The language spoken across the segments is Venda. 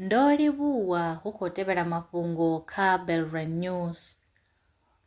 Ndo livhuwa hu khou tevhela mafhungo kha Belrand News.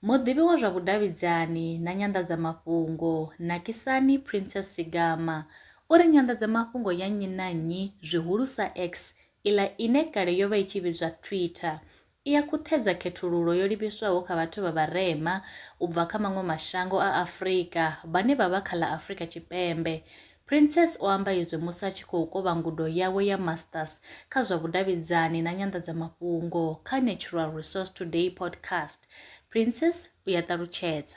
Muḓivhi wa zwa vhudavhidzani na nyanḓadzamafhungo Nakisani Princess Sigama o ri nyanḓadzamafhungo ya nnyi na nnyi zwihulusa X iḽa ine kale yo vha i tshi vhidzwa Twitter i ya khuṱhedza khethululo yo livhiswaho kha vhathu vha vharema u bva kha maṅwe mashango a Afrika vhane vha vha kha ḽa Afrika Tshipembe. Princess o amba izwi musi a tshi khou kovha ngudo yawe ya Masters kha zwa vhudavhidzani na nyanḓadzamafhungo kha Natural Resource Today podcast. Princess u ya ṱalutshedza.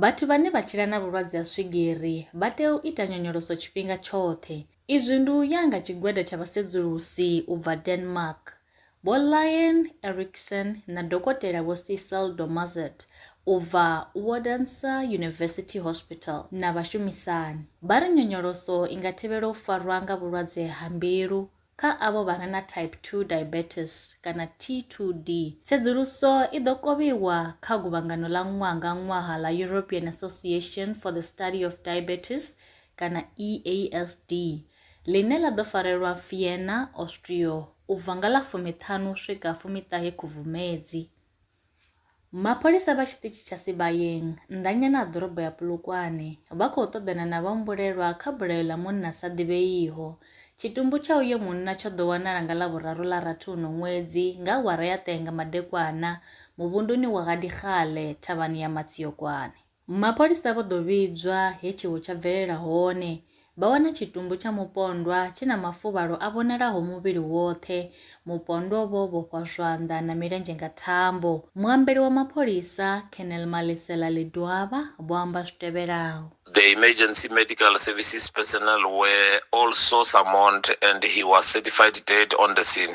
Vhathu vhane vha tshila na vhulwadze ha swigiri vha tea u ita nyonyoloso tshifhinga tshoṱhe. Izwi ndi u ya nga tshigwada tsha vhasedzulusi u bva Denmark, Vho Lien Erickson na Dokotela Vho Sissel Domarzet u bva Odense University Hospital na vhashumisani, vha ri nyonyoloso i nga thivhela u farwa nga vhulwadze ha mbilu, Kha avho vha re na type 2 diabetes kana T2D, tsedzuluso i ḓo kovhiwa kha guvhangano ḽa ṅwaha nga ṅwaha ḽa European Association for the Study of Diabetes kana EASD, ḽine ḽa ḓo farelwa Vienna, Austria, u bva nga ḽa fumi-ṱhanu u swika fumi-ṱahe Khubvumedzi. Mapholisa vha tshiṱitshi tsha Sibayeng, nnḓanyana ha ḓorobo ya Polokwane, vha khou ṱoḓana na vhahumbulelwa kha bulayo ḽa munna a sa ḓivheiho. Tshitumbu tsha uyo munna tsho ḓo wanala nga Ḽavhuraru ḽa rathi uno ṅwedzi nga awara ya 10 nga madekwana muvhunduni wa Ga Dikgale, thavhani ya Matsiokwane. Mapholisa vho ḓo vhidzwa he tshiwo tsha bvelela hone, vha wana tshitumbu tsha mupondwa tshi na mafuvhalo a vhonalaho muvhili woṱhe, mupondwa o vha o vhofhwa zwanḓa na milenzhe nga thambo. Muambeli wa mapholisa, Colonel Malesela Ledwaba, vho amba zwi tevhelaho. The emergency medical services personnel were also summoned and he was certified dead on the scene.